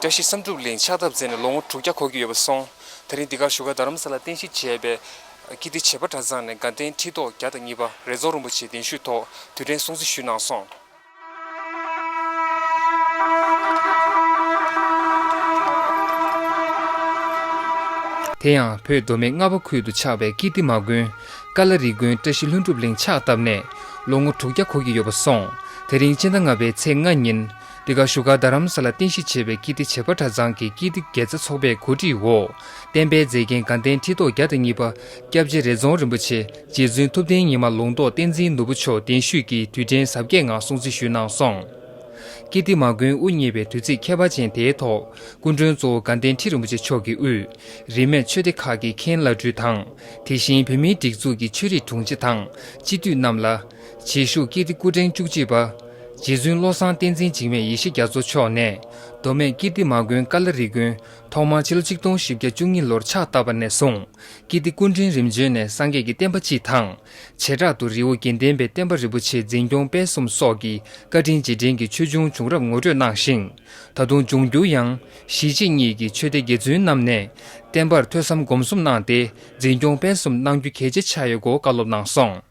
བཀྲ་ཤིས་བསམ་གྲུབ་གླིང་ཕྱག་བཏབ་མཛད་ནས་ལོ་ངོ་དྲུག་བརྒྱ་འཁོར་གྱི་ཡོད་པར་སོང། ད་རིང་འདི་གར་བཞུགས་སྒར་རྡ་རམ་ས་ལར་རྟེན་གཞི་བྱས་པའི། ཀིརྟི་བྱེས་པ་གྲྭ་ཚང་ནས་དགའ་ལྡན་ཁྲི་ཐོག་བརྒྱ་དང་གཉིས་པ་རེ་རྫོགས་རིན་པོ་ཆེའི་གདན་ཞུས་ཐོག་དུས་དྲན་སྲུང་བརྩི་ཞུས་གནང་སོང། དེ་ཡང་བོད་མདོ་སྨད་རྔ་བ་ཁུལ་དུ་ཆགས་པའི་ཀིརྟི་མ་དགོན། ཀ་ལ་རི་དགོན་བཀྲ་ཤིས་ལྷུན་གྲུབ་གླིང་ཕྱག་བཏབ་ནས་ལོ་ངོ་དྲུག་བརྒྱ་འཁོར་གྱི་ཡོད་པར་སོང། དེ་རིང་སྤྱི་ཟླ་ལྔ་པའི་ཚེས་ལྔ་ཉིན། འདི་ག་བཞུགས་སྒར་རྡ་རམ་ས་ལ་རྟེན་གཞི་བྱས་པའི་ཀིརྟི་བྱེས་པ་གྲྭ་ཚང་གི་ཀིརྟི་དགེ་རྩ་ཚོགས་པའི་གོ་སྒྲིག་འོག་བསྟན་པའི་མཛེས་རྒྱན་དགའ་ལྡན་ཁྲི་ཐོག་བརྒྱ་དང་གཉིས་པ་སྐྱབས་རྗེ་རེ་རྫོང་རིན་པོ་ཆེ་རྗེ་བཙུན་ཐུབ་བསྟན་ཉི་མ་ལུང་རྟོགས་བསྟན་འཛིན་ནོར་བུ་མཆོག་གདན་བཞུགས་ཀྱིས་དུས་དྲན་གཟབ་རྒྱས་ངང་སྲུང་བརྩི་ཞུས་གནང་སོང། ཀིརྟི་མ་མགོན་དབུ་བརྙེས་པའི་དུས་ཚིགས་ཁྱད་པར་ཅན་དེའི་ཐོག་སྐུ་མགྲོན་གཙོ་བོ་དགའ་ལྡན་ཁྲི་རིན་པོ་ཆེ་མཆོག་གིས་དབུས་རིས་མེད་ཆོས་སྡེ་ཁག་གི་མཁན་བླ་སྤྲུལ་དང་དེ་བཞིན་བོད་མིའི་སྒྲིག་འཛུགས་ཀྱི་ཆོས་རིག་དྲུང་ཆེ་དང་སྤྱི་འཐུས་རྣམས་ལ། རྗེས་ཞུགས་ཀིརྟི་སྐུ་ཕྲེང་བཅུ་གཅིག་པ། རྗེ་བཙུན་བློ་བཟང་བསྟན་འཛིན་འཇིགས་མེད་ཡེ་ཤེས་རྒྱ་མཚོ་མཆོག་ནས་མདོ་སྨད་ཀིརྟི་མ་དགོན་ཀ་ལ་རི་དགོན་ཐོག་མར་ཕྱི་ལོ་ཆིག་སྟོང་བཞི་བརྒྱ་བཅུ་གཉིས་ལོར་ཕྱག་བཏབ་པ་ནས་བཟུང་ཀིརྟི་སྐུ་ཕྲེང་རིམ་བྱོན་ནས་སངས་རྒྱས་ཀྱི་བསྟན་པ་སྤྱི་དང། བྱེ་བྲག་ཏུ་རི་བོ་དགེ་ལྡན་པའི་བསྟན་པ་རིན་པོ་ཆེ་འཛིན་སྐྱོང་སྤེལ་གསུམ་སོགས་ཀྱི་བཀའ་དྲིན་རྗེས་དྲན་གྱི་ཆོས་འབྱུང་བྱུང་རབས་ངོ་སྤྲོད་གནང་ཞིང། ད་དུང་འབྱུང་འགྱུར་ཡང། གཞིས་བྱེས་གཉིས་ཀྱི་ཆོས་སྡེ་དགེ་བཙུན་རྣམས་ནས་བསྟན་པར་ཐོས་བསམ་སྒོམ་གསུམ་གནང་སྟེ་འཛིན་སྐྱོང་སྤེལ་གསུམ་གནང་རྒྱུ་གལ་ཆེ་ཆགས་ཡོད་སྐོར་བཀའ་སློབ་གནང་སོང།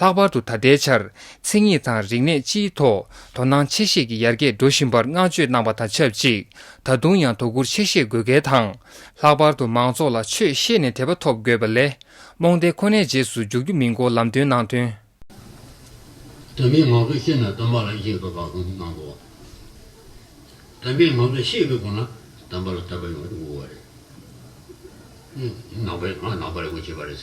ལྷག་པར་དུ་ད་ལྟའི་ཆར་མཚན་ཉིད་དང་རིག་གནས་སྤྱིའི་ཐོག་དོ་སྣང་ཆེ་བཞེས་ཀྱིས་ཡར་རྒྱས་འགྲོ་བཞིན་པར་བསྔགས་བརྗོད་གནང་བ་དང་ཆབས་ཅིག་ད་དུང་ཡང་དོ་ཁུར་ཆེ་བཞེས་དགོས་གལ་དང། ལྷག་པར་དུ་མང་ཚོགས་ལ་ཆོས་བཤད་ནས་དད་པ་ཐོབ་དགོས་པ་ལས་རྨོངས་དད་ཁོ་ནའི་རྗེས་སུ་འཇུག་རྒྱུ་མིན་སྐོར་ལམ་སྟོན་གནང་དོན། དད་མོས་ངང་དུ་ཤེས་ནས་དད་པ་ལ་གཞིགས་དགོས་པ་སོགས་གནང་འདུག་བ། དད་མོས་ངང་དུ་ཤེས་དགོས་དགོངས་ན་དད་པ་ལ་དད་པ་ཡོང་རྒྱུ་དགོས་པ་རེད། ནང་པའི་ནང་པ་རེད་དགོས་བྱས་པ་རེད།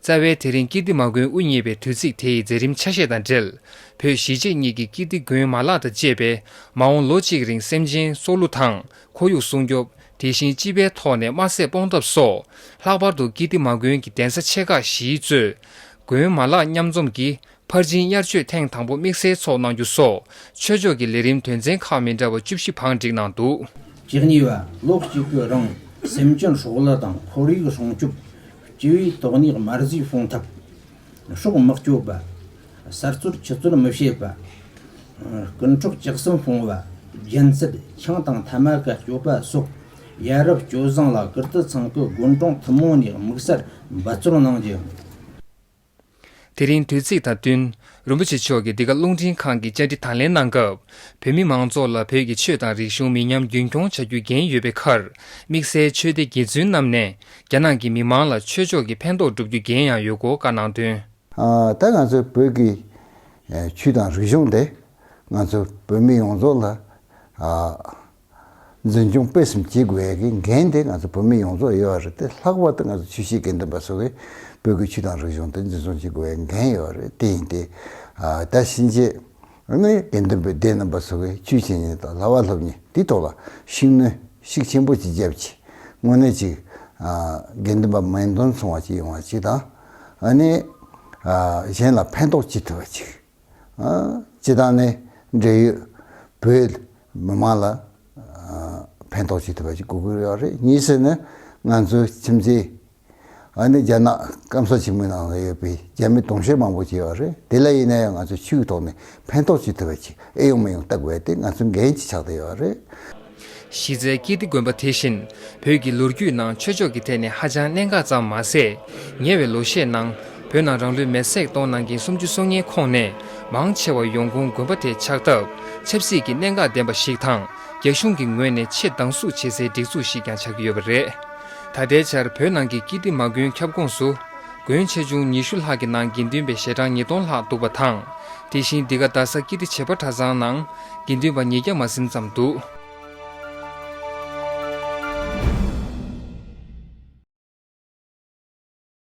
རྩ་བའི་དེ་རིང་ཀིརྟི་མ་དགོན་དབུ་བརྙེས་པའི་དུས་ཚིགས་དེ་ཡི་མཛད་རིམ་ཆ་ཤས་དང་འབྲེལ་བོད་གཞིས་བྱེས་གཉིས་ཀྱི་ཀིརྟི་དགོན་མ་ལག་དང་བཅས་པས་མ་འོངས་ལོ་གཅིག་རིང་སེམས་ཅན་སྲོག་བསླུ་དང་ཁོར་ཡུག་སྲུང་སྐྱོབ་དེ་བཞིན་སྤྱི་པའི་ཐོག་ནས་དམར་ཟས་སྤོང་ཐབས་སོགས་ལྷག་པར་དུ་ཀིརྟི་མ་དགོན་གྱི་གདན་ས་ཆེ་ཁག་བཞིའི་གཙོས་དགོན་མ་ལག་མཉམ་འཛོམས་ཀྱིས་ཕར་ཕྱིན་དབྱར་ཆོས་ཐེངས་དང་པོ་དམིགས་བསལ་ཚོགས་གནང་རྒྱུ་སོགས་ཆོས་ཕྱོགས་ཀྱི་ལས་རིམ་དོན་ཚན་ཁག་མི་འདྲ་བ་བཅུ་བཞི་བང་བསྒྲིགས་གནང་འདུག། གཅིག་གཉིས་པ་ལོགས་གཅིག་པུས་རང་སེམས་ཅན་ཧྲོག་གླ་དང་ཁོར་ཡུག་སྲུང་སྐྱོབ། སྤྱི་བའི་དོགས་གནད་མར་གཟིགས་སྲུང་ཐབས། ཕྱོགས་དམག་སྐྱོབ་པ། གསར་གཏོར་ཆུ་གཏོར་མི་བྱེད་པ། རྐུན་འཕྲོག་ལྕགས་གསུམ་སྤོང་བ། རྒྱན་ཚད་ཆང་དང་ཐ་མ་ཀ་སྐྱོབ་པ་སོགས་ཡ་རབས་སྤྱོད་བཟང་ལ་ཀིརྟི་ཚང་གི་དགོན་གྲོང་ཐུན་མོང་ནས་དམིགས་བསལ་འབད་བརྩོན་གནང་རྒྱུ། དེ་རིང་དུས་ཚིགས་དང་བསྟུན། རིན་པོ་ཆེ་མཆོག་གིས་འདི་ག་རླུང་འཕྲིན་ཁང་གི་བཅར་འདྲི་དང་ལེན་གནང་སྐབས། བོད་མི་མང་ཚོགས་ལ་བོད་ཀྱི་ཆོས་དང་རིག་གཞུང་མི་ཉམས་རྒྱུན་འཁྱོངས་བྱ་རྒྱུ་འགན་ཡོད་པའི་ཁར། དམིགས་བསལ་ཆོས་སྡེ་དགེ་བཙུན་རྣམས་ནས་རྒྱ་ནག་གི་མི་མང་ལ་ཆོས་ཕྱོགས་ཀྱི་ཕན་ཐོགས་སྒྲུབ་རྒྱུ་འགན་ཡང་ཡོད་སྐོར་བཀའ་གནང་དོན། ད་ང་ཚོའི་བོད་ཀྱི་ཆུས་དང་རིག་གཞུང་དེ་ང་ཚོ་བོད་མི་ཡོངས་རྫོགས་ལ། འཛིན་སྐྱོང་སྤེལ་གསུམ་བྱེད་དགོས་པའི་འགན་དེ་ང་ཚོ་བོད་མི་ཡོངས་རྫོགས་ཡོད་རེད་དེ་ལྷག་པར་དུ་ང་ཚོ་ཆུ་བྱའི་དགེ་འདུན་པ་སོགས་ཀྱིས་བོད་ཀྱི་ཆུ་དང་རིག་གཞུང་དེ་འཛིན་བཟུང་བྱེད་དགོས་པའི་འགན་ཡོད་རེད་དེ་ཡིན་ཏེ། ད་ཕྱིན་ཆད་ནི་དགེ་འདུན་པའི་སྡེ་རྣམ་པ་སོགས་ཀྱིས་ཆུ་བྱེད་གཉིས་དང་ལྭ་བ་ལྷོབ་གཉིས་དེའི་ཐོག་ལ་ཤུགས་སྣོན་ཤུགས་ཆེན་པོ་ཅིག་བརྒྱབ་ཆེད་དངོས་གནས་ཅིག་དགེ་འདུན་པ་མིང་དོན་མཚུངས་བ་ཅིག་ཡོང་བ་ཅིག་དང། གཞན་ལ་ཕན་ཐོགས་ཅི་ཐུབ་པ་ཅིག། སྤྱི་བཏང་ནས་འབྲེལ་ཡོད་བོད་མི་མང་ལ་ཕན་ཐོགས་བྱེད་ཐུབ་པ་ཞིག་དགོས་ཀྱི་ཡོད་རེད་གཉིས་ཟེར་ན་ང་ཚོའི་ཁྱིམ་མཚེས་ཨ་ནི་རྒྱ་ནག་སྐམ་ས་ཆེན་མོའི་ནང་ལ་ཡོད་པའི་རྒྱ་མི་དུང་ཞེན་མང་པོ་བྱས་པ་རེད་དེ་ལ་ཡིན་ན་ཡང་ང་ཚོའི་ཆོས་ཀྱི་ཐོག་ནས་ཕན་ཐོགས་བྱེད་ཐུབ་པ་ཞིག་ཨེ་ཡོང་མི་ཡོང་བལྟ་དགོས་པ་དེ་ང་ཚོའི་འགན་གྱི་ཆགས་བསྡད་ཡོད་རེད། གཞི་རྩའི་དཀྱིལ་སྡེ་དགོན་པ་དེ་བཞིན་བོད་ཀྱི་ལོ་རྒྱུས་ནང་ཆོས་ཕྱོགས་ཀྱི་ཐད་ནས་ཧ་ཅང་གནད་འགག་ཙམ་མ་ཟད། ཉེ་བའི་ལོ་ཤས་ནང་བོད་ནང་རང་ལུས་མེར་སྲེག་གཏོང་གནང་མཁན་སུམ་ཅུ་སོ་ལྔའི་ཁོངས་ནས་མང་ཆེ་བ་ཡོང་ཁུངས་དགོན་པ་དེ་ཆགས་སྟབས་ཆབ་སྲིད་ཀྱི་གནད་འགག་ལྡན་པ་ཞིག་དང་རྒྱ་གཞུང་གི་ངོས་ནས་ཆེས་སྡང་ཟུག་བྱེད་སའི་སྒྲིག་འཛུགས་ཤིག་ཀྱང་ཆགས་ཀྱི་ཡོད་པ་རེད། ད་ལྟའི་ཆར་བོད་ནང་གི་དཀྱིལ་སྡེ་མ་དགོན་ཁྱབ་ཁོངས་སུ། དགོན་ཆེ་ཆུང་ཉི་ཤུ་ལྷག་གི་ནང་དགེ་འདུན་པའི་ཞལ་གྲངས་ཉིས་སྟོང་ལྷག་འདུག་པ་དང། དེ་བཞིན་འདི་ག་རྡ་ས་དཀྱིལ་སྡེ་བྱེས་པ་གྲྭ་ཚང་ནང། དགེ་འདུན་པ་ཉིས་བརྒྱ་མ་ཟིན་ཙམ་འདུག།